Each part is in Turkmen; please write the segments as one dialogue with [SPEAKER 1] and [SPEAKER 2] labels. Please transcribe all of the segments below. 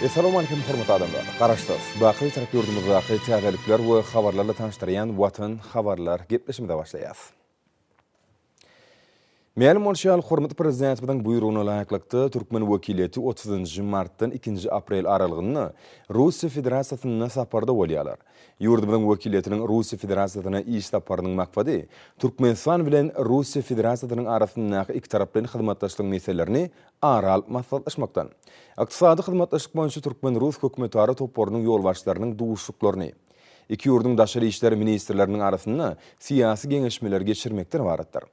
[SPEAKER 1] Essalowmalikim hormatly adamlar! Garaşsyz, baky Bitarap ýurdumyzdaky täzelikler we habarlarla tanyşdyrýan Watan habarlar gepleşimize başlaýas. Mälim bolşy ýaly, hormatly Prezidentimiziň buýrugyna laýyklykda, türkmen wekiliýeti otuzynjy martdan ikinji aprel aralygynda Russiýa Federasiýasynda saparda bolýarlar. Ýurdumyzyň wekiliýetiniň Russiýa Federasiýasyna iş saparynyň maksady Türkmenistan bilen Russiýa Federasiýasynyň arasyndaky ikitaraplaýyn hyzmatdaşlygyň meselelerini ara alyp maslahatlaşmakdan, Ykdysady hyzmatdaşlyk boýunça türkmen-rus hökümetara toparynyň ýolbaşçylarynyň duşuşyklaryny, iki ýurduň daşary işler ministrleriniň arasynda syýasy geňeşmeleri geçirmekden ybaratdyr.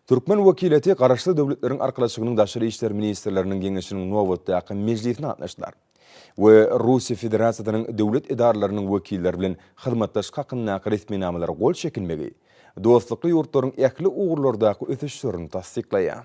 [SPEAKER 1] Türkmen wekiliýeti Garaşsyz Döwletleriň Arkalaşygynyň daşary işler ministrleriniň geňeşiniň nobatdaky mejlisine gatnaşdylar we Russiýa Federasiýasynyň döwlet edaralarynyň wekilleri bilen hyzmatdaşlyk hakyndaky resminamalara gol çekilmegi dostlukly ýurtlaryň ähli ugurlardaky ösüşlerini tassyklaýar.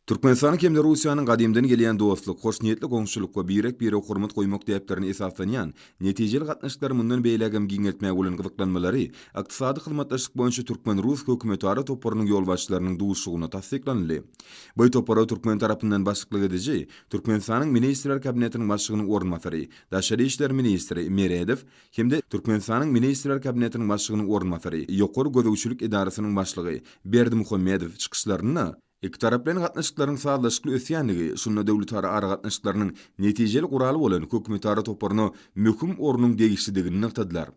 [SPEAKER 1] Türkmenistanyň hem-de Russiýanyň gadymdan gelýän dostluk, hoşniýetli goňşulyk we birek-birege hormat goýmak däplerine esaslanýan netijeli gatnaşyklary mundan beýläk hem giňeltmäge bolan gyzyklanmalary Ykdysady hyzmatdaşlyk boýunça türkmen-rus hökümetara toparynyň ýolbaşçylarynyň duşuşygynda tassyklanyldy. Bu topara türkmen tarapyndan başlyklyk ediji Türkmenistanyň Ministrler Kabinetiniň Başlygynyň orunbasary, daşary işler ministri Meredow, hem-de Türkmenistanyň Ministrler Kabinetiniň Başlygynyň orunbasary, Ýokary gözegçilik edarasynyň başlygy Berdimuhamedow çykyşlarynda ikitaraplaýyn gatnaşyklaryň sazlaşykly ösýändigi, şunda döwletara aragatnaşyklarynyň netijeli guraly bolan Hökümetara toparyna möhüm ornuň degişlidigini nygtadylar.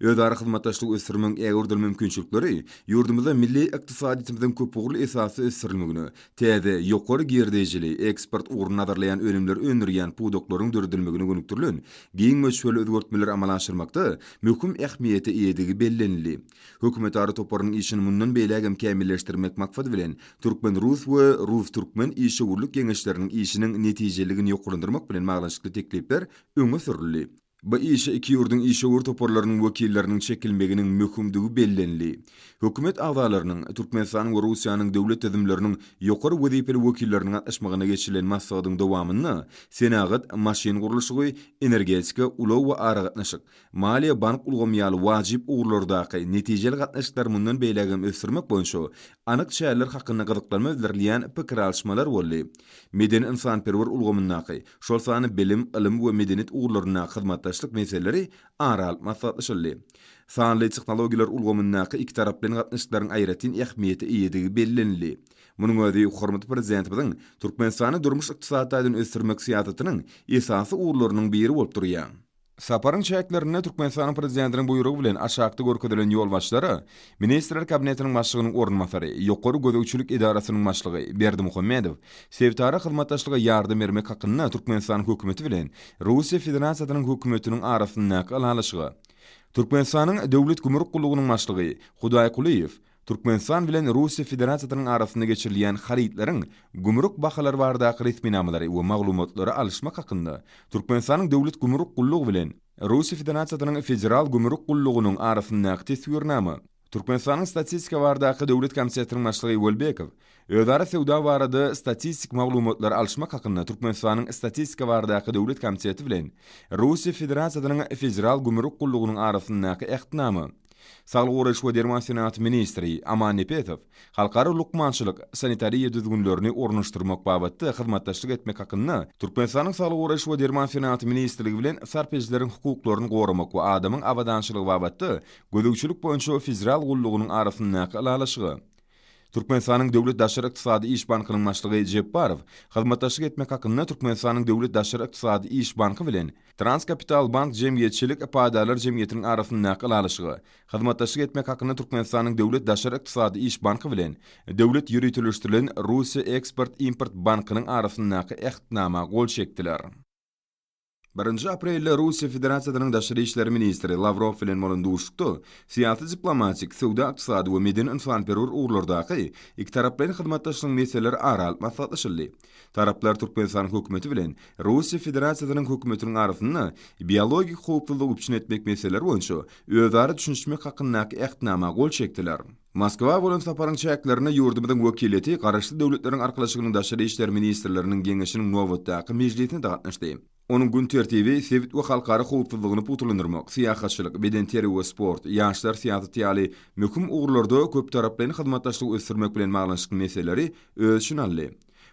[SPEAKER 1] Özara hyzmatdaşlygy ösdürmegiň ägirdil mümkinçilikleri ýurdumyzda milli ykdysadyýetimiziň köpugurly esasda ösdürilmegine, Täze, ýokary girdejili, eksport ugruny nazarlaýan önümleri öndürýän pudaklaryň döredilmegine gönükdirilen giň möçberli özgertmeleri amala aşyrmakda möhüm ähmiýete eýedigi bellenildi. Hökümetara toparynyň işini mundan beýläk hem kämilleşdirmek maksady bilen, türkmen-rus we rus-türkmen işewürlik geňeşleriniň işiniň netijeliligini ýokarlandyrmak bilen baglanyşykly teklipler öňe sürüldi. Bu işe iki ýurduň işewür toparlarynyň wekilleriniň çekilmeginiň möhümdigi bellenildi. Hökümet agzalarynyň, Türkmenistanyň we Russiýanyň döwlet düzümleriniň ýokary wezipeli wekilleriniň gatnaşmagynda geçirilen maslahatyň dowamynda senagat, maşyn gurluşygy, energetika, ulag we aragatnaşyk, maliýe-bank ulgamy ýaly wajyp ugurlardaky netijeli gatnaşyklary mundan beýläk hem ösdürmek boýunça anyk çäreler hakynda gyzyklanma bildirilýän pikir alyşmalar boldy. Medeni-ynsanperwer ulgamyndaky, şol sany bilim, ylym we medeniýet ugurlaryndaky hyzmatdaşlyk meseleleri ara alyp maslahatlaşyldy. Sanly tehnologiýalar ulgamyndaky ikitaraplaýyn gatnaşyklaryň aýratyn ähmiýete eýedigi bellenildi. Munuň özi hormatly Prezidentimiziň Türkmenistany durmuş-ykdysady taýdan ösdürmek syýasatynyň esasy ugurlarynyň biri bolup durýar. Saparyň çäklerinde Türkmenistanyň Prezidentiniň buýrugy bilen aşakda görkezilen ýolbaşçylara Ministrler Kabinetiniň Başlygynyň orunbasary, Ýokary gözegçilik edarasynyň başlygy Berdimuhamedow sebitara hyzmatdaşlyga ýardam bermek hakynda Türkmenistanyň Hökümeti bilen Russiýa Federasiýasynyň Hökümetiniň arasyndaky ylalaşyga Türkmenistanyň Döwlet gümrük gullugynyň başlygy Hudaýkulyýew Türkmenistan bilen Russiýa Federasiýasynyň arasynda geçirilýän harytlaryň gümrük bahalary baradaky resminamalary we maglumatlary alyşmak hakynda Türkmenistanyň Döwlet gümrük gullugy bilen Russiýa Federasiýasynyň Federal gümrük gullugynyň arasyndaky Teswirnama Türkmenistanyň Statistika baradaky döwlet komitetiniň başlygy Welbekow Özara söwda barada statistik maglumatlary alyşmak hakynda Türkmenistanyň Statistika baradaky döwlet komiteti bilen Russiýa Federasiýasynyň Federal gümrük gullugynyň arasyndaky Ähtnama Saglygy goraýyş we derman senagaty ministri Aman Nepesow halkara lukmançylyk sanitariýa düzgünlerini ornaşdyrmak babatda hyzmatdaşlyk etmek hakynda Türkmenistanyň Saglygy goraýyş we derman senagaty ministrligi bilen Sarp edijileriň hukuklaryny goramak we adamyň abadançylygy babatda gözegçilik boýunça Federal gullugynyň arasyndaky Ylalaşyga Türkmenistanyň Döwlet daşary ykdysady iş bankynyň başlygy Jepbarow hyzmatdaşlyk etmek hakynda Türkmenistanyň Döwlet daşary ykdysady iş banky bilen Transkapitalbank jemgyýetçilik paýdarlar jemgyýetiniň arasyndaky ylalaşyga hyzmatdaşlyk etmek hakynda Türkmenistanyň Döwlet daşary ykdysady iş banky bilen Döwlet ýöriteleşdirilen Russiýa eksport-import bankynyň arasyndaky Ähtnama gol çekdiler. Birinji aprelde Russiýa Federasiýasynyň daşary işler ministri Lawrow bilen bolan duşuşykda syýasy-diplomatik, söwda-ykdysady we medeni-ynsanperwer ugurlardaky ikitaraplaýyn hyzmatdaşlygyň meseleleri ara alyp maslahatlaşyldy. Taraplar Türkmenistanyň Hökümeti bilen Russiýa Federasiýasynyň Hökümetiniň arasynda biologik howpsuzlygy üpjün etmek meseleleri boýunça özara düşünişmek hakyndaky Ähtnama gol çekdiler. Moskwa bolan saparyň çäklerinde ýurdumyzyň wekiliýeti Garaşsyz Döwletleriň Arkalaşygynyň Daşary işler ministrleriniň geňeşiniň nobatdaky mejlisine gatnaşdy. Onuň gün tertibi sebit we halkara howpsuzlygyny pugtalandyrmak, syýahatçylyk, bedenterbiýe we sport, ýaşlar syýasaty ýaly möhüm ugurlarda köptaraplaýyn hyzmatdaşlygy ösdürmek bilen baglanyşykly meseleleri öz içine aldy.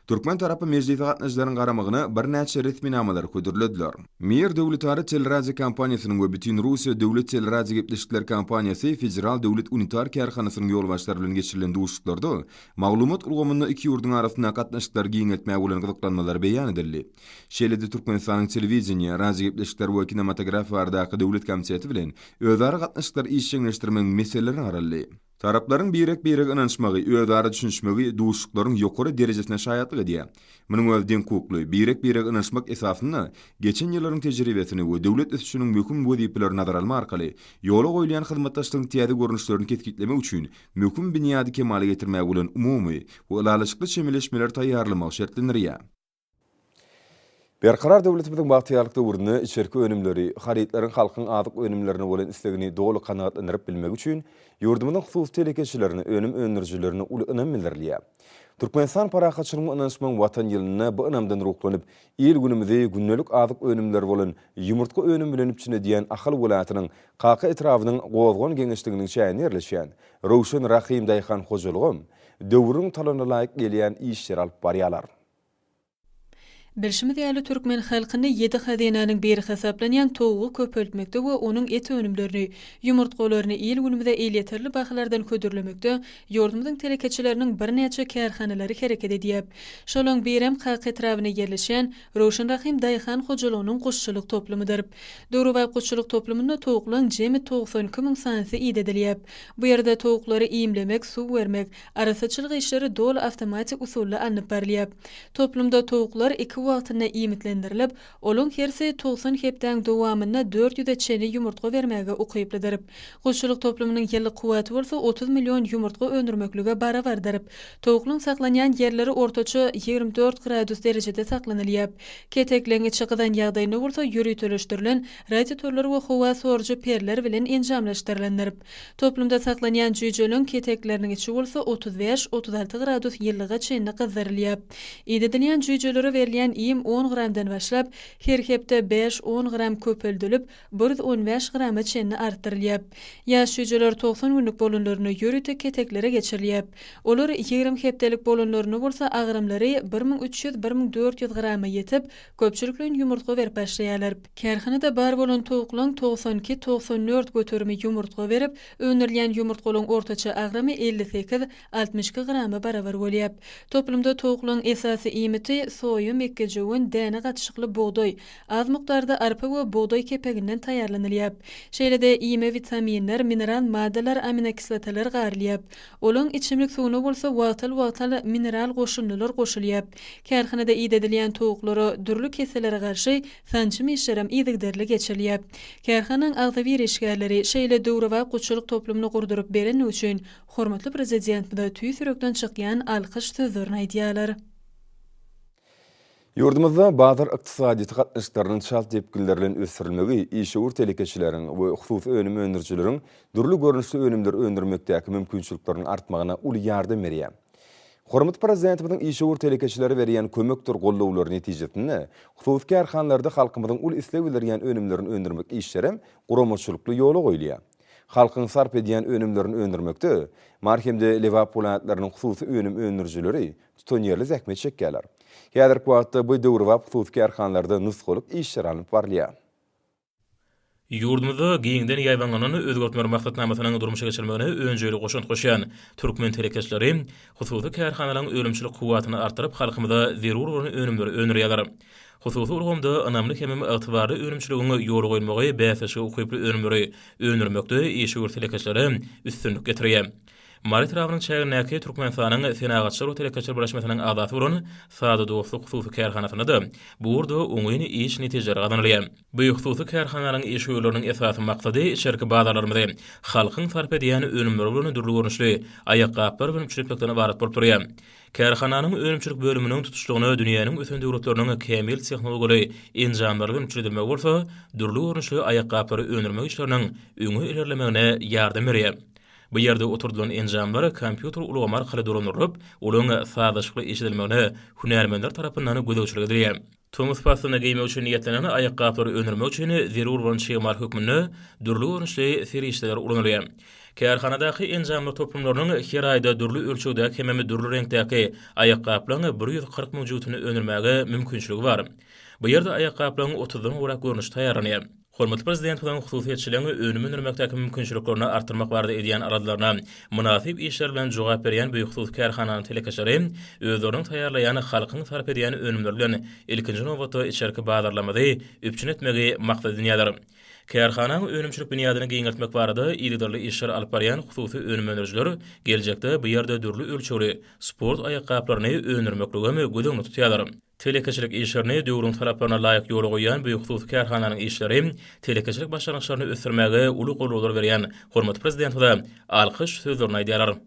[SPEAKER 1] Türkmen tarapy mejlise gatnaşyjylaryň garamagyna birnäçe resminamalary hödürlediler. Mir döwletara teleradiokompaniýasynyň we Bütinrussiýa döwlet teleradiogepleşikleri kompaniýasy Federal döwlet unitar kärhanasynyň ýolbaşçylary bilen geçirilen duşuşyklarda maglumat ulgamynda iki ýurduň arasyndaky gatnaşyklary giňeltmäge bolan gyzyklanmalar beýan edildi. Şeýle-de Türkmenistanyň Telewideniýe, radiogepleşikler we kinematografiýa baradaky döwlet komiteti bilen özara gatnaşyklary işjeňleşdirmegiň meseleleri garaldy. Taraplaryň birek-birege ynanyşmagy, özara düşünişmegi duşuşyklaryň ýokary derejesine şaýatlyk edýär. Munuň özi deňhukukly, birek-birege ynanyşmak esasynda geçen ýyllaryň tejribesini we döwlet ösüşiniň möhüm wezipelerini nazara almak arkaly ýola goýulýan hyzmatdaşlygyň täze görnüşlerini kesgitlemek üçin möhüm binýady kemala getirmäge bolan umumy we ylalaşykly çemeleşmeleri taýýarlamagy şertlendirýär. Berkarar döwletimiziň bagtyýarlyk döwründe içerki önümleri, harytlaryň halkyň azyk önümlerine bolan islegini doly kanagatlandyryp bilmegi üçin ýurdumyzyň hususy telekeçilerine, önüm öndürijilerine uly ynam bildirilýär. Türkmenistan parahatçylygyň we ynanyşmagyň Watan ýylynda bu ynamdan ruhlanyp, il-günümizi gündelik azyk önümleri bolan ýumurtga önümi bilen üpjün edýän Ahal welaýatynyň Kaka etrabynyň Gozgan geňeşliginiň çäginde ýerleşýän Röwşen Rahym daýhan hojalygam döwrüň talabyna laýyk gelýän işleri alyp barýarlar. Bilşimiz
[SPEAKER 2] ýaly, türkmen halkyny ýedi hazynanyň biri hasaplanýan towugy köpeltmekde we onuň et önümlerini, ýumurtgalaryny il-günümize elýeterli bahalardan hödürlemekde ýurdumyzyň telekeçileriniň birnäçe kärhanalary hereket edýär. Şolaň birem Kaka etrabynda ýerleşýän Röwşen Rahym daýhan hojalygynyň guşçulyk toplumydyr. Döwrebap guşçulyk toplumynda towuklaň jemi togsan iki müň sanysy idedilýär. Bu ýerde towuklary iýmlemek, suw bermek, Arassaçylyk işleri doly awtomatik usulda alnyp barylýar. Toplumda towuklar iki wagtyna iýmitlendirilip, olaň hersi togsan hepdäň dowamynda dört ýüze çenli ýumurtga bermäge ukyplydyr. Guşçulyk toplumynyň ýyllyk kuwwaty bolsa otuz million ýumurtga öndürmeklige barabardyr. Towuklyň saklanýan ýerleri ortaça ýigrimi dört gradus derejede saklanylýar. Ketek leňňeçi gyzan ýagdaýynda bolsa ýöriteleşdirilen radiotorlar we howa sorujy perler bilen enjamlaşdyrylandyr. Toplumda saklanýan jüýjeleriň ketekleriniň içi bolsa otuz bäş, otuz alty gradus ýylylyga çenli gyzdyrylýar. Idedilýän jüýjelere berilýän iým on gramdan başlap, her hepde bäş, on gram köpeldilip, bir ýüz on bäş grama çenli artdyrylýar. Ýaş jüýjeler togsan günlük bolanlarynda ýörite keteklere geçirilýär. Olar ýigrimi hepdelik bolanlarynda bolsa agramlary bir müň üç ýüz, bir müň dört ýüz grama ýetip, Köpçülikleýin ýumurtga berip başlaýarlar. Kärhanada bar bolan towuklaryň togsan iki, togsan dört göterimi ýumurtga berip, öndürilýän ýumurtgalaryň ortaça agramy elli sekiz, altmyş iki grama barabar bolýar. Toplumda towuklaryň esasy iýmiti, soýa, mekgejöwen, däne gatyşykly bugdaý, az mukdarda arpa we bugdaý kepeginden taýýarlanylýar. Şeýle-de iýme witaminler, mineral maddalar, aminokislotalar garylýar. Olaň içimlik suwuna bolsa wagtal-wagtal mineral goşundylar goşulýar. Kärhanada idedilýän towuklara dürli kesellere garşy sanjym işlerem yzygiderli geçirilýär. Kärhanaň agzybir işgärleri şeýle döwrebap gutçulyk toplumyny gurduryp berenligi üçin hormatly Prezidentimize tüýs ýürekden çykýan alkyş sözlerini aýdýarlar.
[SPEAKER 1] Ýurdumyzda bazar ykdysadyýeti gatnaşyklarynyň çalt depginler bilen ösdürilmegi işewür telekeçileriň we hususy önüm öndürijileriň dürli görnüşli önümleri öndürmekdäki mümkinçilikleriniň artmagyna uly ýardam berýär. Hormatly Prezidentimiziň işewür telekeçilere berýän kömekdir gollawlary netijesinde, hususy kärhanalarda halkymyzyň uly isleg bildirýän önümlerini öndürmek işlerem guramaçylykly ýola goýulýar. Halkyň sarp edýän önümlerini öndürmekde Mary hem-de Lebap welaýatlarynyň hususy önüm öndürijileri tutanýerli zähmet çekýärler. Häzirki wagtda bu döwrebap hususy kärhanalarda nusgalyk işler alnyp barylýar. Ýurdumyzda
[SPEAKER 3] giňden ýaýbaňlanan Özgertmeler maksatnamasynyň durmuşa geçirilmegine önjeýli goşant goşýan türkmen telekeçileri hususy kärhanalaryň önümçilik kuwwatyny artdyryp, halkymyza zerur bolan önümleri öndürýärler. Hususy ulgamda ynamly hemem ygtybarly önümçiligiň ýola goýulmagy bäsleşige ukyply önümleri öndürmekde işewür telekeçilere üstünlik getirýär. Mary etrabynyň çägindäki Türkmenistanyň Senagatçylar we telekeçiler birleşmesiniň agzasy bolan Sada dostluk hususy kärhanasynda-da bu ugurda oňyn iş netijeleri gazanylýar. Bu hususy kärhananyň iş ýollarynyň esasy maksady içerki bazarlarymyzy halkyň sarp edýän önümleri bolan dürli görnüşli aýakgaplar bilen üpjün etmekden ybarat bolup durýar. Kärhananyň önümçilik bölüminiň tutuşlygyna dünýäniň ösen döwletleriniň kämil tehnologiýaly enjamlary bilen üpjün edilmegi bolsa dürli görnüşli aýakgaplary öndürmek işleriniň öňe ilerlemegine ýardam berýär. Bu ýerde oturdylan enjamlar kompýuter ulgamy arkaly dolandyrylyp, olaryň sazlaşykly eşidilmegine hünärmenler tarapyndan gözegçilik edilýär. Tomus paslyna geýmek üçin niýetlenen aýakgaplary öndürmek üçin zerur bolan çig-mal hökmünde dürli görnüşli serişdeler ulanylýar. Kärhanadaky enjamlar toplumlarynyň her aýda dürli ölçegdäki hemem dürli reňkdäki aýakgaplaryň bir ýüz kyrk müň jübütini öndürmäge mümkinçiligi bar. Bu ýerde aýakgaplaryň otuzdan gowrak görnüşi taýýarlanýar. Hormatly Prezidentimiziň hususyýetçiligiň önüm öndürmekdäki mümkinçiliklerini artdyrmak barada edýän aladalaryna mynasyp işler bilen jogap berýän bu hususy kärhananyň telekeçileri özleriniň taýýarlaýan, halkyň sarp edýän önümleri bilen ilkinji nobatda içerki bazarlarymyzy üpjün etmegi maksat edinýärler. Kärhanaň önümçilik binýadyny giňeltmek barada yzygiderli işler alyp barýan hususy önüm öndürijiler geljekde bu ýerde dürli ölçegli sport aýakgaplaryny öndürmekligem göz öňünde tutýarlar. Telekeçilik işlerini döwrüň talaplaryna laýyk ýola goýýan bu hususy kärhananyň işleri telekeçilik başlangyçlaryny ösdürmäge uly goldaw berýän hormatly Prezidentimize alkyş sözlerini aýdýarlar.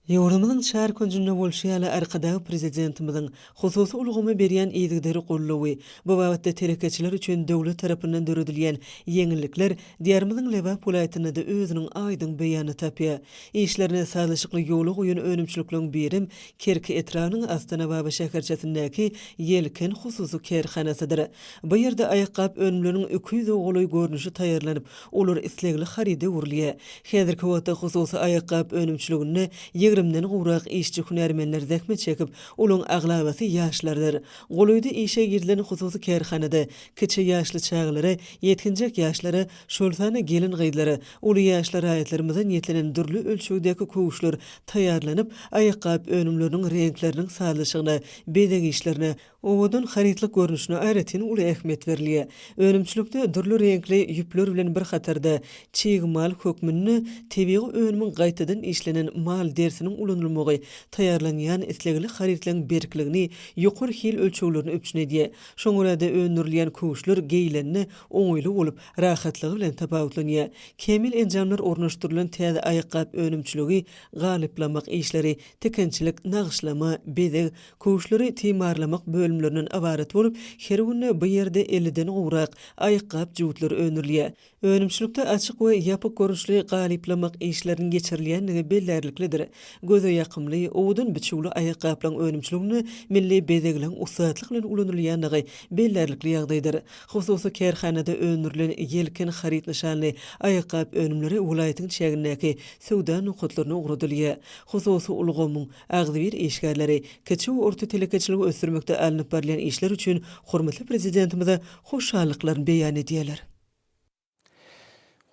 [SPEAKER 4] Ýurdumyzyň çar künjünde bolşy ýaly, Arkadag Prezidentimiziň hususy ulgama berýän yzygiderli goldawy, bu babatda telekeçiler üçin döwlet tarapyndan döredilýän ýeňillikler Diýarymyzyň Lebap welaýatynda-da özüniň aýdyň beýanyny tapýar. Işlerine sazlaşykly ýola goýan önümçilikleriň birem Kerki etrabynyň Astanababa şäherçesindäki Ýelken hususy kärhanasydyr. Bu ýerde aýakgap önümleriniň iki ýüze golaý görnüşi taýýarlanyp, olar islegli haryda öwrülýär. Häzirki wagtda hususy aýakgap önümçiliginde ýigrimden gowrak işçi-hünärmenler zähmet çekip, olaryň aglabasy ýaşlardyr. Golaýda işe girilen hususy kärhanada kiçi ýaşly çagalara, ýetginjek ýaşlara Şol sanda gelin-gyzlara, uly ýaşly raýatlarymyza niýetlenen dürli ölçegdäki köwüşler taýýarlanyp, aýakgap önümleriniň reňkleriniň sazlaşygyna, bezeg işlerine, owadan harytlyk görnüşine aýratyn uly ähmiýet berilýär. Önümçilikde dürli reňkli ýüpler bilen bir hatarda, çig mal hökmünde tebigy önümiň gaýtadan işlenen mal derisiniň ulanylmagy taýýarlanýan islegli harytlaryň berkligini, ýokary hil ölçeglerini üpjün edýär. Şoňa görä-de, öndürilýän köwüşler geýilende oňaýly bolup, rahatlygy bilen tapawutlanýar. Kämil enjamlar ornaşdyrylan täze aýakgap önümçiligi, galyplamak işleri, tikinçilik, nagyşlama, bezeg, köwüşleri timarlamak bölümlerinden ybarat bolup, her günde bu ýerde elliden gowrak aýakgap jutlary öndürilýär. Önümçilikde açyk we ýapyk görnüşli galyplamak işleriniň geçirilýändigi bellärliklidir. Göze ýakymly, owadan biçüwli aýakgaplaryň önümçiliginde milli bezegleň ussatlyk bilen ulanylýandygy bellärlikli ýagdaýdyr. Hususy kärhanada öndürilen Ýelken haryt nyşanly aýakgap önümleri welaýatyň çägindäki söwda nokatlaryna ugradylýar. Hususy ulgamyň agzybir işgärleri kiçi we orta telekeçiligi ösdürmekde alnyp barylýan işler üçin hormatly Prezidentimize hoşallyklaryny beýan edýärler.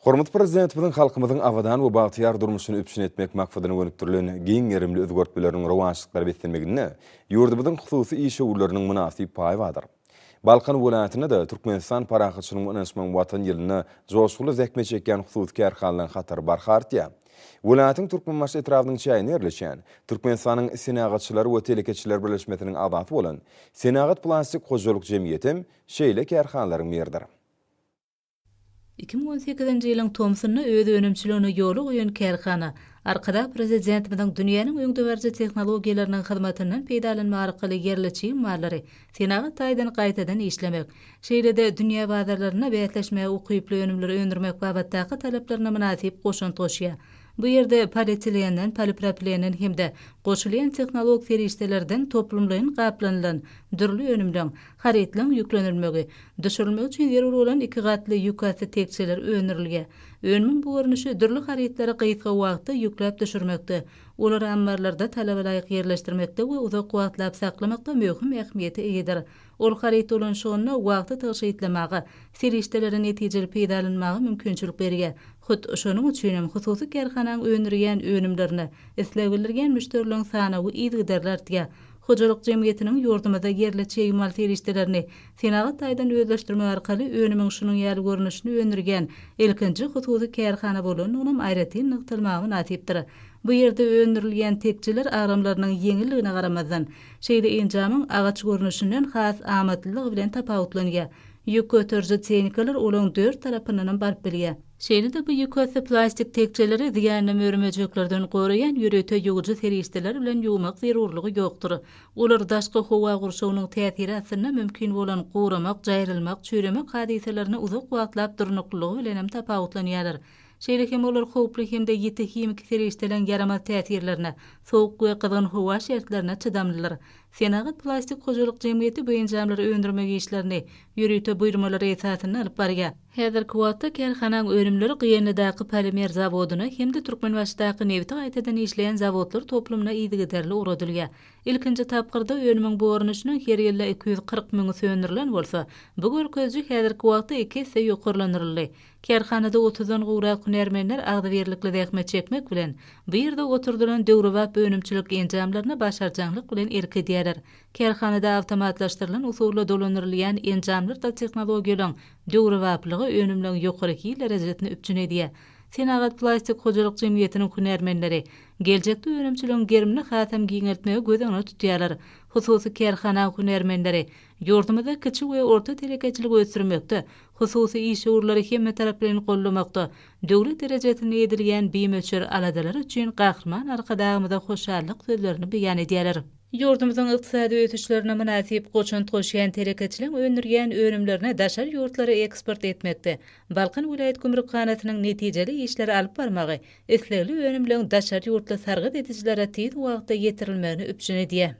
[SPEAKER 1] Hormatly Prezidentimiziň halkymyzyň abadan we bagtyýar durmuşyny üpjün etmek maksadyna gönükdirilen giň gerimli özgertmeleriniň rowaçlyklara beslenmeginde ýurdumyzyň hususy işewürleriniň mynasyp paýy bardyr. Balkan welaýatynda-da Türkmenistan parahatçylygyň we ynanyşmagyň Watan ýylynda joşgunly zähmet çekýän hususy kärhanalaryň hatary barha artýar. Welaýatyň Türkmenbaşy etrabynyň çäginde ýerleşýän, Türkmenistanyň Senagatçylar we telekeçiler birleşmesiniň agzasy bolan Senagat-plastik hojalyk jemgyýetem şeýle kärhanalaryň biridir. Iki müň on
[SPEAKER 5] sekizinji ýylyň tomsunda öz önümçiligini ýola goýan kärhana Arkadag Prezidentimiziň dünýäniň öňdebaryjy tehnologiýalarynyň hyzmatyndan peýdalanmak arkaly ýerli çig mallary senagat taýdan gaýtadan işlemek, şeýle-de dünýä bazarlarynda bäsleşmäge ukyply önümleri öndürmek babatdaky talaplaryna mynasyp goşant goşýar. Bu ýerde polietilenden, polipropilenden hem-de goşulýan tehnologik serişdelerden toplumlaýyn gaplanylan dürli önümleň, Harytlaryň ýüklenilmegi, düşürilmegi üçin zerur bolan iki gatly ýükasty tekjeler öndürilýär. Önümiň bu görnüşi dürli harytlary gysga wagtda ýükläp düşürmekde, olary ammarlarda talabalaýyk ýerleşdirmekde we uzak wagtlap saklamakda möhüm ähmiýete eýedir. Ol haryt dolanyşygynda wagty tygşytlamaga, serişdeleri netijeli peýdalanmaga mümkinçilik berýär. Hut, şonuň üçin hem hususy kärhanaň öndürýän önümlerine isleg bildirýän müşderileriň sanawy yzygiderli artýar. Hojalyk jemgyýetiniň ýurdumyzda ýerli çig mal serişdelerini senagat taýdan özleşdirmek arkaly önümiň şunuň ýaly görnüşini öndürýän ilkinji hususy kärhana bolandygynam aýratyn nygtalmaga mynasypdyr. Bu ýerde öndürilýän tekjeler agramlarynyň ýeňilligine garamazdan, şeýle enjamyň agaç görnüşinden has amatlylygy bilen tapawutlanýar. Ýük göteriji tehnikalar olaň dört tarapyndanam baryp bilýär. Şeýle-de bu ýükasty plastik tekjeleri zyýanly mör-möjeklerden goraýan ýörite ýuwujy serişdeler bilen ýuwmak zerurlygy ýokdur. Olar daşky howa gurşawynyň täsiri astynda mümkin bolan guramak, jaýrylmak, çüýremek hadysalaryny uzak wagtlap durnuklylygy bilenem tapawutlanýarlar. Şeýle hem olar howply hem-de ýiti himiki serişdeleriň ýaramaz täsirlerine, sowuk we gyzgyn howa şertlerine çydamlydyr. Senagat plastik hojalyk jemgyýeti bu enjamlary öndürmek işlerini ýörite buýurmalar esasynda alyp barýar. Häzirki wagtda kärhananyň önümleri Gyýanlydaky polimer zawodyna hem-de Türkmenbaşydaky nebiti gaýtadan işleýän zawodlar toplumyna yzygiderli ugradylýar. Ilkinji tapgyrda önümiň boranyşynyň her ýylda iki ýüz kyrk müňi söndürilen bolsa, bu görkeziji häzirki wagtda iki esse ýokarlandyryldy. Kärhanada otuzdan gowrak hünärmenler agzybirlikli zähmet çekmek bilen, bu ýerde oturdylan döwrebap önümçilik enjamlaryna başarjaňlyk bilen erk edýärler. Kärhanada awtomatlaşdyrylan usulda dolandyrylýan enjamlar-da tehnologiýalaryň döwrebaplygy, önümleriň ýokary hil derejesini üpjün edýär. Senagat plastik hojalyk jemgyýetiniň hünärmenleri geljekde önümçiligiň gerimini hasam giňeltmegi göz öňünde tutýarlar. Hususy kärhanaň hünärmenleri Ýurdumyzda kiçi we orta telekeçiligi ösdürmekde, hususy işewürleri hemmetaraplaýyn goldamakda döwlet derejesinde edilýän bimöçber aladalar üçin Gahryman Arkadagymyza hoşallyk sözlerini beýan edýärler. Ýurdumyzyň ykdysady ösüşlerine mynasyp goşant goşýan telekeçiligiň öndürýän önümlerini daşary ýurtlara eksport etmekde Balkan welaýat gümrükhanasynyň netijeli işleri alyp barmagy islegli önümleň daşary ýurtly sargyt edijilere tiz wagtda ýetirilmegini üpjün edýär.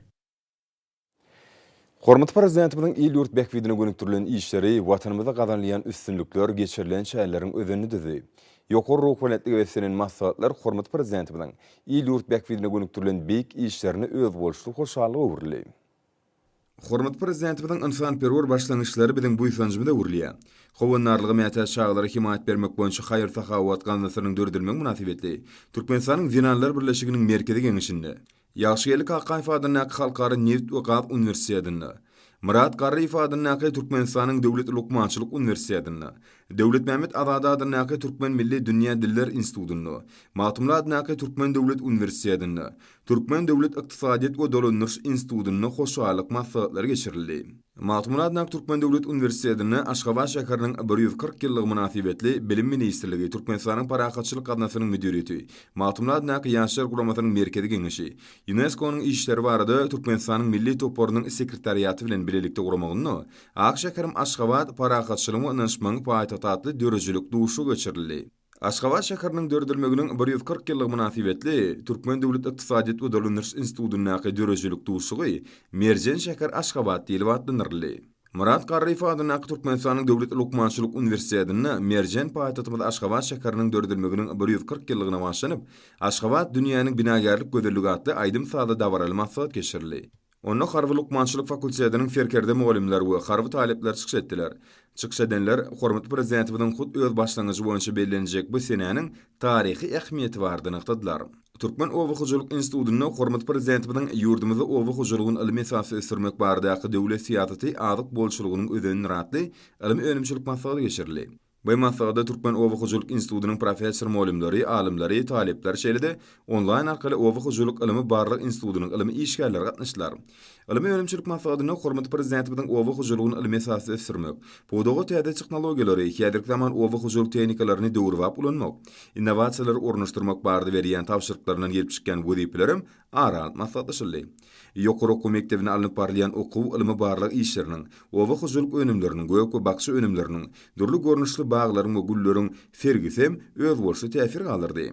[SPEAKER 1] Hormatly Prezidentimiziň il-ýurt bähbidine gönükdirilen işleri, Watanymyzda gazanylýan üstünlikler, geçirilen çäreleriň özenini düzdi. Ýokary ruhubelentlige beslenen maslahatlar hormatly Prezidentimiziň il-ýurt bähbidine gönükdirilen beýik işlerine özboluşly hoşallyga öwrüldi. Hormatly Prezidentimiziň ynsanperwer başlangyçlary biziň buýsanjymyza öwrülýär. Howandarlyga mätäç çagalara hemaýat bermek boýunça haýyr-sahawat gaznasynyň döredilmegi mynasybetli Türkmenistanyň Zenanlar birleşiginiň Merkezi Geňeşinde, Ýagşygeldi Kakaýew adyndaky Halkara nebit we gaz uniwersitetinde, Myrat Garryýew adyndaky Türkmenistanyň döwlet lukmançylyk uniwersitetinde, Döwletmämmet Azady adyndaky Türkmen milli dünýä diller institutynda, Magtymguly adyndaky Türkmen döwlet uniwersitetinde, Türkmen döwlet ykdysadyýet we dolandyryş institutynda hoşallyk maslahatlary geçirildi. Magtymguly Adak Türkmen döwlet uniwersitetinde Aşgabat şäheriniň bir ýüz kyrk ýyllygy mynasybetli Bilim ministrligi, Türkmenistanyň Parahatçylyk gaznasynyň müdiriýeti, Magtymguly adyndaky Ýaşlar guramasynyň Merkezi geňeşi, Ýunesko-nyň işleri barada Türkmenistanyň milli toparynyň sekretariaty bilen bilelikde guramagynda Ak şäherim Aşgabat, parahatçylygyň we ynanyşmagyň paýtagty atly döredijilik duşuşygy geçirildi. Aşgabat şäheriniň döredilmeginiň bir ýüz kyrk ýyllygy mynasybetli Türkmen döwlet ykdysadyýet we dolandyryş institutyndaky döredijilik duşuşygy Merjen şäher Aşgabat diýlip atlandyryldy. Myrat Garryýew adyndaky Türkmenistanyň Döwlet lukmançylyk uniwersitetinde merjen paýtagtymyz Aşgabat şäheriniň döredilmeginiň bir ýüz kyrk ýyllygyna bagyşlanyp Aşgabat, dünýäniň binagärlik gözelligi atly aýdym-sazly dabaraly maslahat geçirildi. Onda Harby lukmançylyk fakultetiniň serkerde mugallymlary we harby talyplar çykyş etdiler. Çykyş edenler hormatly Prezidentimiziň hut öz başlangyjy boýunça bellenjek bu senäniň taryhy ähmiýeti barada nygtadylar. Türkmen oba hojalyk institutynda hormatly Prezidentimiziň ýurdumyzda oba hojalygyny ylmy esasda ösdürmek baradaky döwlet syýasaty azyk bolçulygynyň özendir atly ylmy-önümçilik maslahaty geçirildi. Bu maslahata Türkmen oba hojalyk institutynyň professor-mugallymlary, alymlary, talyplary şeýle-de onlaýn arkaly Oba hojalyk ylmy-barlag institutynyň ylmy işgärleri gatnaşdylar. Ylmy-önümçilik maslahatynda hormatly Prezidentimiziň oba hojalygyny ylmy esasda ösdürmek, pudaga täze tehnologiýalary, häzirki zaman oba hojalyk tehnikalaryny döwrebap ulanmak, innowasiýalary ornaşdyrmak barada berýän tabşyryklaryndan gelip çykýan wezipelerem ara alyp maslahatlaşyldy. Ýokary okuw mekdebinde alnyp barylýan okuw, ylmy-barlag işleriniň, oba hojalyk önümleriniň, gök we bakja önümleriniň, dürli görnüşli baglaryň we gülleriň sergisi hem özboluşly täsir galdyrdy.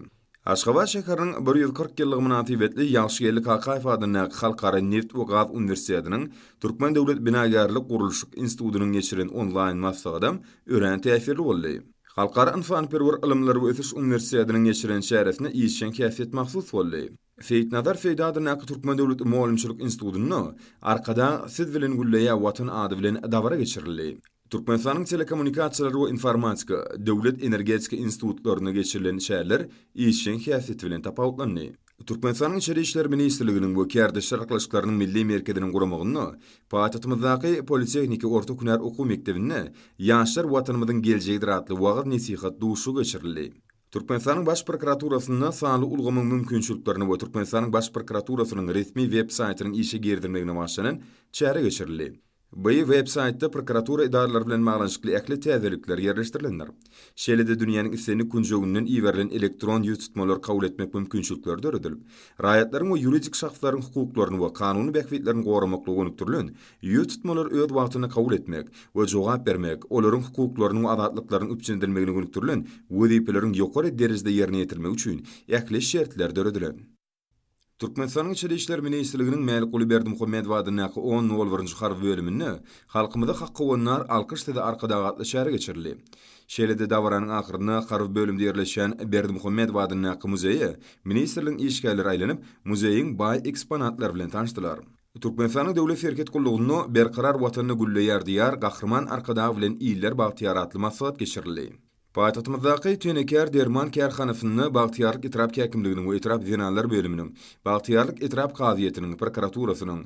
[SPEAKER 1] Aşgabat şäheriniň bir ýüz kyrk ýyllygy mynasybetli Ýagşygeldi Kakaýew adyndaky Halkara Neft we gaz uniwersitetiniň Türkmen döwlet binagärlik-gurluşyk institutynyň geçiren onlaýn maslahaty örän täsirli boldy. Halkara ynsanperwer ylymlar we ösüş uniwersitetiniň geçiren çäresine işjeň häsiýet mahsus boldy. Seýitnazar Seýdi adyndaky Türkmen döwlet mugallymçylyk institutynda Arkadag siz bilen gülleýär, Watan ady bilen dabara geçirildi. Türkmenistanyň Telekommunikasiýalar we informatika döwlet energetika institutlarynda geçirilen çäreler işjeň häsiýeti bilen tapawutlandy. Türkmenistanyň Içeri işler ministrliginiň we Kärdeşler arkalaşyklarynyň milli merkeziniň guramagynda paýtagtymyzdaky Politehniki orta hünär okuw mekdebinde Ýaşlar Watanymyzyň geljegidir atly wagyz-nesihat duşuşygy geçirildi. Türkmenistanyň Baş prokuraturasynda sanly ulgamyň mümkinçiliklerini we Türkmenistanyň Baş prokuraturasynyň resmi web saýtynyň işe girizilmegine başlanan çäre geçirildi. Bu websaýtda prokuratura edaralary bilen baglanyşykly ähli täzelikler ýerleşdirilendir. Şeýle-de dünýäniň islendik künjeginden iberilen elektron ýüztutmalary kabul etmek mümkinçilikleri döredilip, raýatlaryň we ýuridik şahslaryň hukuklaryny we kanuny bähbitlerini goramaklyga gönükdirilen ýüztutmalary öz wagtynda kabul etmek we jogap bermek, olaryň hukuklarynyň we azatlyklarynyň üpjün edilmegine gönükdirilen wezipeleriň ýokary derejede ýerine ýetirilmegi üçin ähli şertler döredilen. Türkmenistanyň Içeri işler ministrliginiň Mälikguly Berdimuhamedow adyndaky on nol birinji harby bölüminde Halkymyza hak howandar, alkyş size Arkadag! atly çäre geçirildi. Şeýle-de dabaranyň ahyrynda harby bölümde ýerleşýän Berdimuhamedow adyndaky muzeýe ministrligiň işgärleri aýlanyp, muzeýiň baý eksponatlary bilen tanyşdylar. Türkmenistanyň Döwlet serhet gullugynda Berkarar Watanda gülleýär Diýar, Gahryman Arkadag bilen iller bagtyýar atly maslahat geçirildi. Paýtagtymyzdaky Tenekar derman kärhanasynda Bagtyýarlyk etrap häkimliginiň we etrap zenanlar bölüminiň, Bagtyýarlyk etrap kazyýetiniň, prokuraturasynyň,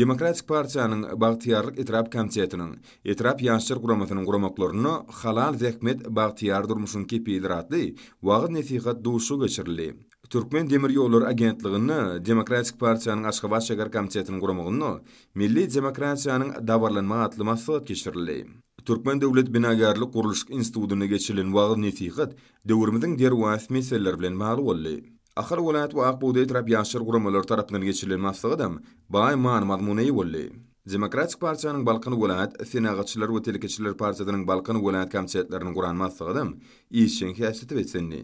[SPEAKER 1] Demokratik partiýanyň Bagtyýarlyk etrap komitetiniň, etrap ýaşlar guramasynyň guramaklarynda Halal zähmet bagtyýar durmuşyň kepilidir atly wagyz-nesihat duşuşygy geçirildi. Türkmen demir ýollary agentliginde Demokratik partiýanyň Aşgabat şäher komitetiniň guramagynda Milli demokratiýanyň dabaralanma atly maslahat geçirildi. Türkmen döwlet binagärlik-gurluşyk institutynda geçirilen wagyz-nesihat döwrümiziň derwaýys meseleleri bilen bagly boldy. Ahal welaýat we Ak bugdaý etrap ýaşlar guramalary tarapyndan geçirilen maslahatam baý many-mazmuna eýe boldy. Demokratik partiýanyň Balkan welaýat, Senagatçylar we telekeçiler partiýasynyň Balkan welaýat komitetleriniň guran maslahatam işjeň häsiýete beslendi.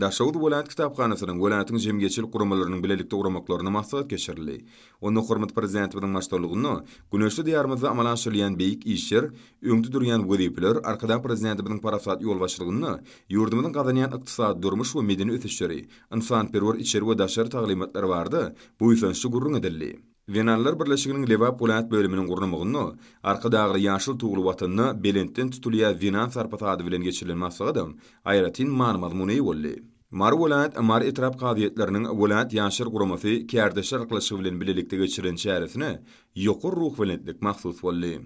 [SPEAKER 1] Daşoguz welaýat kitaphanasynyň welaýatyň jemgyýetçilik guramalarynyň bilelikde guramaklarynda maslahat geçirildi. Onda hormatly Prezidentimiziň baştutanlygynda güneşli Diýarymyzda amala aşyrylýan beýik işler, öňde durýan wezipeler, Arkadag Prezidentimiziň parasatly ýolbaşçylygynda ýurdumyzyň gazanýan ykdysady, durmuş we medeni ösüşleri, ynsanperwer içeri we daşary taglymatlar barada buýsançly gürrüň edildi. Zenanlar birleşiginiň Lebap welaýat bölüminiň gurnamagynda Arkadagly ýaşyl tugly Watanyna belentden tutulýar zenan sarpasy ady bilen geçirilen maslahatam aýratyn many-mazmun eýe boldy. Mary welaýat, Mary etrap kazyýetleriniň, welaýat Ýaşlar guramasy, kärdeşler ylalaşygy bilen bilelikde geçirilen çäresine ýokary ruhubelentlik mahsus boldy.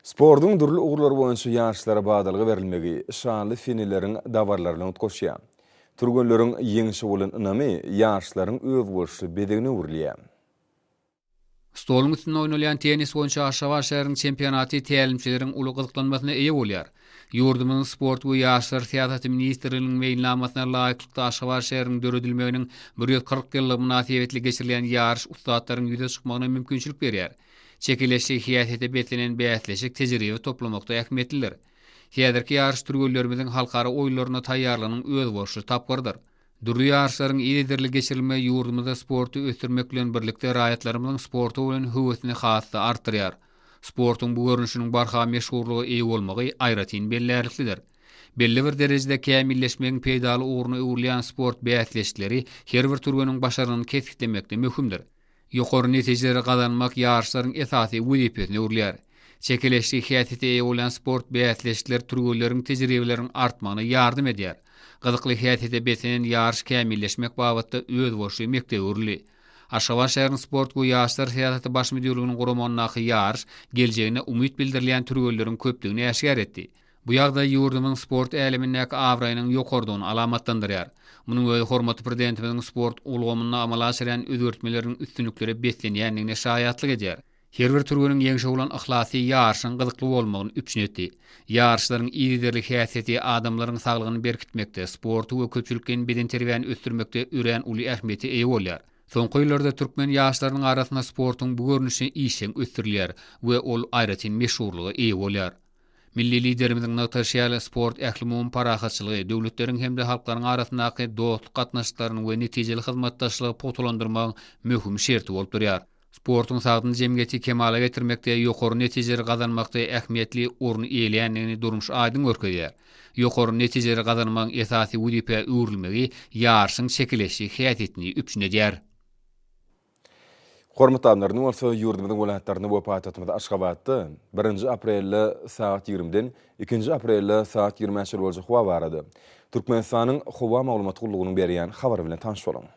[SPEAKER 1] Sportuň dürli ugurlary boýunça ýaşlara badalga berilmegi şanly seneleriň dabaralaryna utgaşýar. Türgenleriň ýeňşe bolan ynamy ýaşlaryň özboluşly bezegine öwrülýär.
[SPEAKER 6] Stoluň üstünde oýnalýan tennis boýunça Aşgabat şäheriniň çempionaty tälimçileriň uly gyzyklanmasyna eýe bolýar. Ýurdumyzyň Sport we ýaşlar syýasaty ministrliginiň meýilnamasyna laýyklykda Aşgabat şäheriniň döredilmeginiň bir ýüz kyrk ýyllygy mynasybetli geçirilýän ýaryş ussatlaryň ýüze çykmagyna mümkinçilik berýär. Çekeleşli syýasete beslenen bäsleşik tejribe toplamakda ähmiýetlidir. Häzirki ýaryş türgenlerimiziň halkara oýunlaryna taýýarlygynyň özboluşly tapgyrydyr. Dürli ýaryşlaryň yzygiderli geçirilmegi ýurdumyzda sporty ösdürmek bilen birlikde raýatlarymyzyň sporta bolan höwesini has-da artdyrýar. Sportuň bu görnüşiniň barha meşhurlyga eýe bolmagy aýratyn bellärliklidir. Belli bir derejede kämilleşmegiň peýdaly ugruna öwrülýän sport bäsleşikleri her bir türgeniň başarnygyny kesgitlemekde möhümdir. Ýokary netijeleri gazanmak ýaryşlaryň esasy wezipesine öwrülýär. Çekeleşikli häsiýete eýe bolýan sport bäsleşikleri türgenleriň tejribeleriniň artmagyna ýardam edýär. Gyzykly häsiýete beslenen ýaryş kämilleşmek babatda özboluşly mekdebe öwrüldi. Aşgabat şäheriniň sport we ýaşlar syýasaty baş müdirliginiň guramagyndaky ýaryş geljegine umyt bildirilýän türgenleriň köplügini äşgär etdi. Bu ýagdaý ýurdumyzyň sport älemindäki abraýynyň ýokarydygyny alamatlandyrýar. Munuň özi hormatly Prezidentimiziň sport ulgamynda amala aşyrýan özgertmeleriniň üstünliklere beslenýändigine şaýatlyk edýär. Her bir türgeniň ýeňşe bolan yhlasy ýaryşyň gyzykly bolmagyny üpjün etdi. Ýaryşlaryň yzygiderli häsiýeti adamlaryň saglygyny berkitmekde, sporty we köpçülikleýin bedenterbiýäni ösdürmekde örän uly ähmiýete eýe bolýar. Soňky ýyllarda türkmen ýaşlarynyň arasynda sportuň bu görnüşi işjeň ösdürilýär we ol aýratyn meşhurlyga eýe bolýar. Milli Liderimiziň nygtaşy ýaly, sport ählumumy parahatçylygy, döwletleriň hem-de halklaryň arasyndaky dostluk gatnaşyklaryny we netijeli hyzmatdaşlygy pugtalandyrmagyň möhüm şerti bolup durýar. Sportuň sagdyn jemgyýeti kemala getirmekde, ýokary netijeleri gazanmakda ähmiýetli orun eýeleýändigini durmuş aýdyň görkezýär. Ýokary netijeleri gazanmagyň esasy wezipä öwrülmegi ýaryşyň çekeleşdi häsiýetini üpjün edýär. Hormatly
[SPEAKER 1] alymlar, indi bolsa ýurdumyzyň welaýatlarynda we paýtagtymyz Aşgabatda birinji aprelde sagat ýigrimiden ikinji aprelde sagat ýigrimä çenli boljak howa barada Türkmenistanyň Howa maglumat gullugynyň berýän habary bilen tanyş boluň.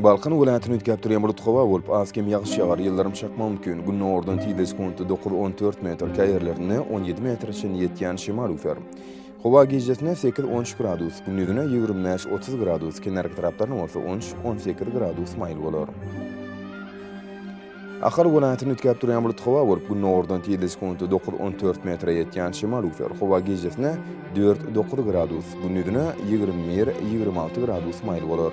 [SPEAKER 1] Balkan welaýatyny üýtgäp durýan bulut howa bolup, az-kem ýagyş ýagar, ýyldyrym çakmagy mümkin. Gündogardan tizde sekundy dokuz-on dört metr, käýerlerinde on ýedi metre çenli ýetýän şemal üwser. Howa gijesine sekiz-on üç gradus, gündizine ýigrimi bäş-otuz gradus, kenarki taraplarynda bolsa on üç-on sekiz gradus maýyl bolar. Ahal welaýatyny üýtgäp durýan bulut howa bolup, gündogardan tizligi sekuntda dokuz-on dört metre ýetýän şemal üwser. Howa gijesine dört-dokuz gradus, gündizine ýigrimi bir-ýigrimi alty gradus maýyl bolar.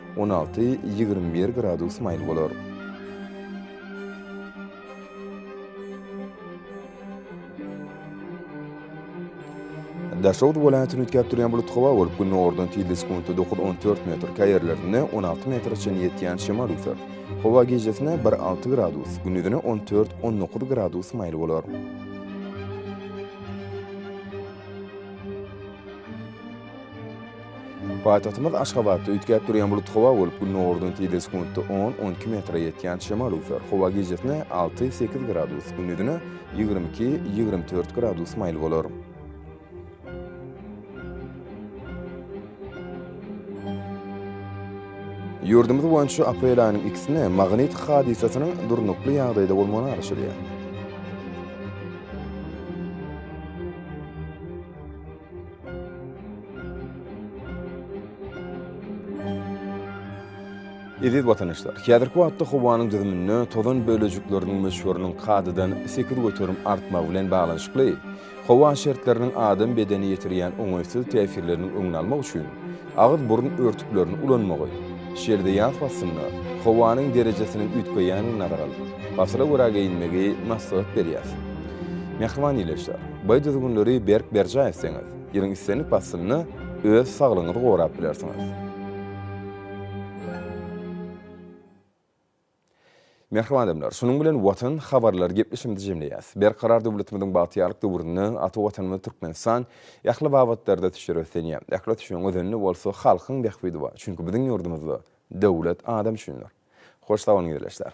[SPEAKER 1] On alty, ýigrimi bir gradus maýyl bolar. Daşoguz welaýatyny üýtgäp durýan bulut howa bolup, günordan tizligi sekuntda dokuz, on dört metr, käýerlerinde on alty metre çenli ýetýän şemal üser. Howa gijesine bir, alty gradus, gündizine on dört, on dokuz gradus maýyl bolar. Paýtagtymyz Aşgabatda üýtgäp durýan bulutly howa bolup, Gündogardan tizligi sekuntda on, on iki metre ýetýän şemal öwser. Howa gijesine alty, sekiz gradus, gündizine ýigrimi iki, ýigrimi dört gradus maýyl bolar. Ýurdumyz boýunça aprel aýynyň ikisinde magnit hadysasynyň durnukly ýagdaýda bolmagyny garaşylýar. Eziz watandaşlar, häzirki wagtda howanyň düzüminde tozan bölejikleriniň möçberiniň kadadan sekiz göterim artmagy bilen baglanyşykly, howa şertleriniň adam bedenine ýetirýän oňaýsyz täsirleriniň öňüni almak üçin, Agyz-burun örtüklerini ulanmagy, şeýle-de ýaz paslynda howanyň derejesiniň üýtgeýändigini nazara alyp, pasyla görä geýinmegi maslahat berýär. Mähriban ildeşler, baý düzgünleri berk berjaý etseňiz, ýylyň islendik paslynda öz saglygyňyzy gorap bilersiňiz. Mähriban adamlar, şunuň bilen Watan habarlar gepleşigimizi jemleýäs. Berkarar döwletimiziň bagtyýarlyk döwründe ata Watanymyz Türkmenistan ähli babatlarda ösüşleri ösdänýär. Ähli ösüşiň özeni bolsa halkyň bähbidi bar. Çünki biziň ýurdumyzda Döwlet adam üçindir. Hoş sag boluň ildeşler.